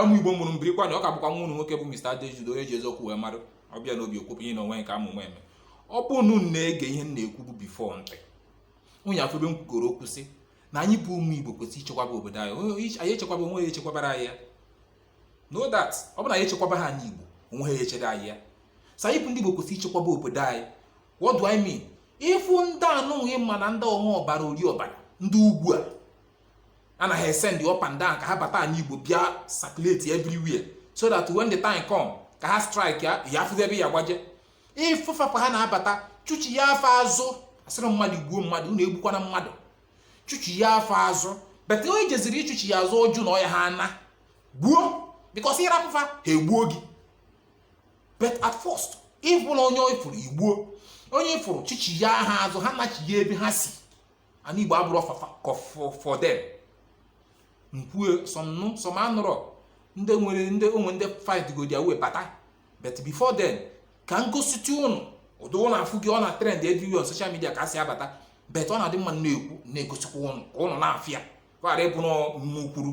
ụmụ igbo mụrụ m birikwanụ ọ ka bụkwa nwa unu nwoke bụ Mr. Adejude onye ji eziokwu wee mara ọ bịa n'obi okwupụ ihe na onwe nke a mụ nwa eme ọ bụ unu na-ege ihe m na-ekwubu before ntị unu ya afụ ebe m kwugoro okwu sị na anyị bụ ụmụ igbo kwesịrị ichekwaba obodo anyị anyị echekwaba onwe ya echekwabara anyị ya no that ọ bụ na anyị echekwaba ha anị igbo onwe ha echere anyị ya so anyị bụ ndị igbo kwesịrị ichekwaba obodo anyị what do I mean ị fụ ndị anụghị ma na ndị ọṅụ ọbara ori ọbara ndị ugwu a a na-esend up and down ka ha bata anị igbo bịa circulate everywhere so that when the time come ka ha strike ya ya afụzi ebe ya gbaje ị fụ fa ka ha na-abata chụchia fa azụ asịrọ m mmadụ gbuo mmadụ unu egbukwana mmadụ chụchia fa azụ but onye jeziri ịchụchia azụ ọ jụ na ọ ya ha ana gbuo because ị rapụ fa ha egbuo gị but at first ọ bụrọ onye ị fụrụ i gbuo onye ị fụrụ chụchia ha azụ ha nachia ebe ha si ana igbo abụrọ for them m kwue some anụ some anụrọ ndị nwere ndị onwe ndị find go their way bata but before then ka m gositụ ụnụ ụdị ụnụ afụgo ọ na trend everywhere on social media ka ha si abata but ọ na-adị mma m na-ekwu m na-egosikwa ụnụ ka ụnụ na-afụ ya ghara ịbụ n'ọnụ m kwuru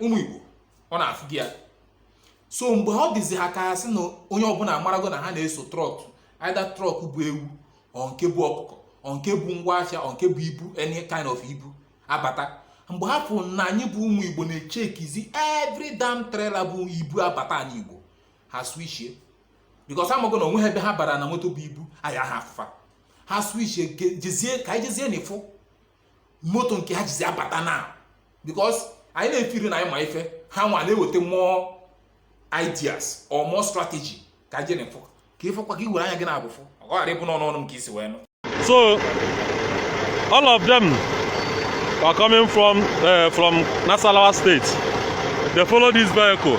ụmụ Igbo unu afụgo ya so mgbe ọ dịzi ha ka ha sị na onye ọbụla amarago na ha na-eso truck either truck bu ewu or nke bu ọkụkọ or nke bu ngwa ahịa or nke bu ibu any kind of ibu abata mgbe ha fụrụ na anyị bụ ụmụ Igbo na-echekizi every damn trailer bu ibu abata anị Igbo ha switchie because amago na onwe ha ebe ha bara na moto bu ibu a ya ha afụ fa ha switchie jezie ka anyị jezie na ịfụ moto nke ha jizi abata na because anyị na-efeel na anyị ma ife ha nwa na-eweta more ideas or more strategy ka anyị je n'ifu ka ị fụkwa ka i were anya gị naabọ fụ ọ ghara ịbụ n'ọnụ ọnụ m ka i si wee nụ so all of them were coming from uh, from Nasarawa state they follow this vehicle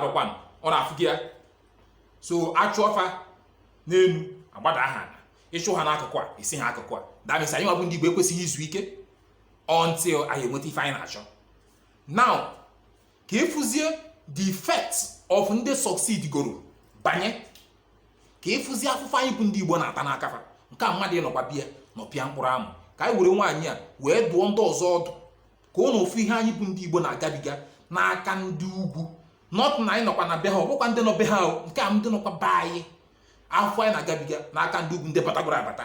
arụkwanụ unu afụgo ya so a chụọ fa n'enu agbada ha ana ị chụ ha n'akụkụ a esi ha akụkụ a that means anyị nwa bụ ndị Igbo ekwesịghị izu ike until anyị enweta ife anyị na-achọ now ka ị fụzie the effect of ndị succeed goro banye ka ị fụzie afụfụ anyị bụ ndị Igbo na-ata n'aka fa nke a mmadụ ị nọkwa ebe a nọpịa mkpụrụ amụ ka anyị were nwaanyị a wee dụọ ndị ọzọ ọdụ ka ụnụ fụ ihe anyị bụ ndị Igbo na-agabiga n'aka ndị ugwu not na anyị nọkwa na be ha ọ bụkwa ndị nọ be ha nke a ndị nọkwa be anyị afụfụ anyị na-agabiga n'aka ndị ugwu ndị batagoro abata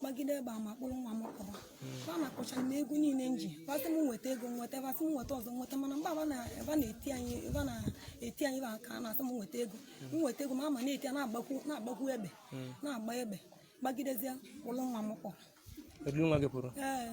gbagide egbe ama kpụrụ nwa m kpọba ba nakọcha m ego niile m ji ba sị m nweta ego m nweta ba sị m nweta ọzọ m nweta mana mgbe a ba na-eti anyị ba na-eti anyị ba aka na-asị m nweta ego m nweta ego ma ama na-eti ya na-agbakwu na-agbakwu egbe na-agba egbe gbagidezie kpụrụ nwa m kpọrọ e dulu nwa gị pụrụ ee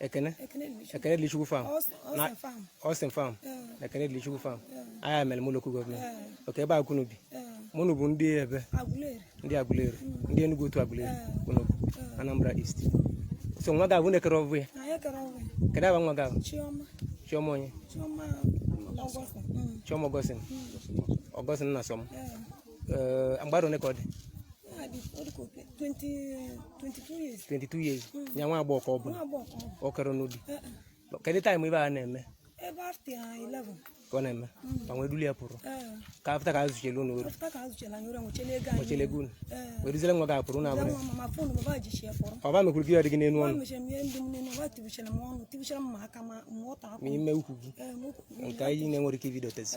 Ekene Ekenedilichukwu farm na Austin farm na Ekenedilichukwu farm Ayamelum local government okay ebe a ka ụnụ bi ma ụnụ bụ ndị ebe ndị Aguleri hmm. ndị Enugu Otu Aguleri unu hmm. Anambra East so nwa gị afụ na-ekere ọbụ ya kedu afa nwa gị afụ Chioma onye Chioma Augustine hmm. Augustine na Sọm Eh, mgbe arọ ole ka ọ dị twenty years hmm. ya nwa agbọghọ ka ọ bụ ọ karọ anụ di eh, eh. kedu time ife a na-eme ka ọ na-eme hmm. ka nwee duli ya pụrụ ka after ka e zuchele unu ori wechele ego unu wee duzere nwa gị a pụrụ na abụrụ ọ ba mekwuru gị ya dị gị n'elu ọnụ ma ime ukwu gị nke anyị na-enwerọ ike ibido tezi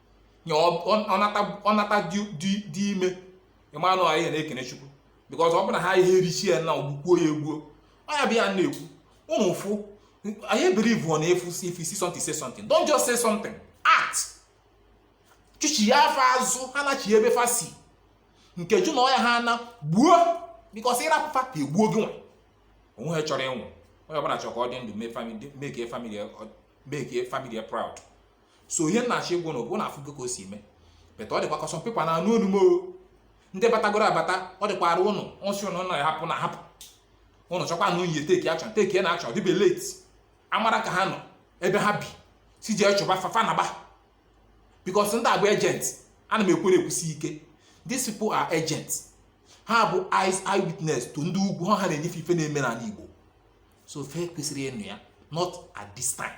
nye ọ nwata dị ime ị manụ anyị na-ekene Chukwu because ọ bụ na ha ihe erichi ya na ogbukwuo ya egbuo ọ ya bụ ihe a na-ekwu ụnụ fụ anyị believe on efu if you see something say something don't just say something act chụchie fa azụ ha nachi ebe fa si nke jụ na ọ ya-ana gbuo because ị rapụ fa ka egbuo gị nwa onwe ha chọrọ ịnwụ onye ọbụla chọrọ ka ọ dị ndụ make family proud so ihe m na-achọ ịgwa ụnụ bụ ụnụ afụgo ka o si mee beta ọ dịkwa ka some people na-anụ olu m ndị batagoro abata ọ dịkwara ụnụ ọsị ụnụ na hapụ na hapụ ụnụ chọkwa na unyi teki achọ teki na achọ dịbe late a mara ka ha nọ ebe ha bi si jee chụba fa fa naba because ndị a bụ agent ana m ekwu ya ekwusi ike these people are agents ha bụ eyes eyewitness to ndị ugwu ha na-enyefe ife na-eme n'ala Igbo so fe kwesịrị ịnụ ya not at this time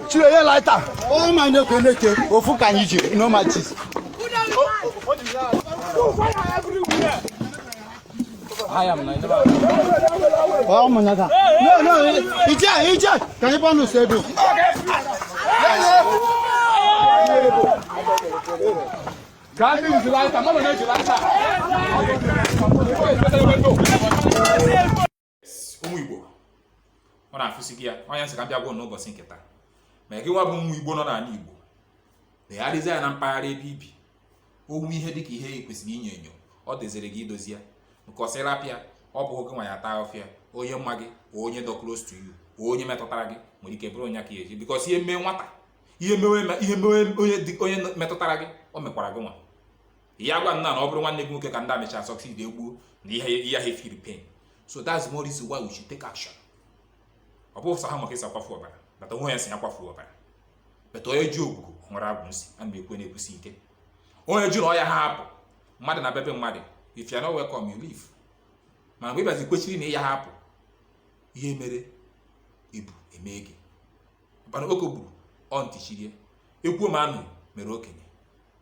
chiri onye lighter onye ma na-ekwe na-eke ofu ka anyị jiri no matches ọ mụnya ka no no ije ije ka anyị bọnụ si ebe ka ndị uzi lighter mmadụ na-eji lighter ụmụ Igbo ụnụ afụsịgo ya ọ ihe m sị ka m bịa gwa ụnụ ụbọchị nke taa ma gị nwa bụ ụmụ Igbo nọ n'ala Igbo legharịzie anya na mpaghara ebe i bi o nwee ihe dị ka ihe e kwesịrị inyo enyo ọ dịziri gị idozi ya nke ị sị rapụ ya ọ bụhọ gị nwa ya-ata afụfụ ya onye ma gị ka onye dọ close to you ka onye metụtara gị nwere ike bụrụ onye a ya-eji because ihe mee nwata ihe mewe ihe mewe onye metụtara gị o mekwara gị nwa ị ya-agwa m na ọ bụrụ nwanne gị nwoke ka ndị a mecha succeed egbuo na ị yahụ efeel pain so that's more reason why we should take action ọ bụ sọ ha ma ka e si akwafu ọbara bata onwe ya si ya kwafu ọbara bata onye ji ogugo nwere agwụ nsị a na-ekwu na-ekwusi ike onye jụrụ ọ yaha hapụ mmadụ na bebe mmadụ if you are not welcome you leave mana mgbe ị bịazi kwechiri na ị yaha apụ ihe mere ibe eme gị mana oke gburu ọ ntị chiri ekwuo ma anụ mere okenye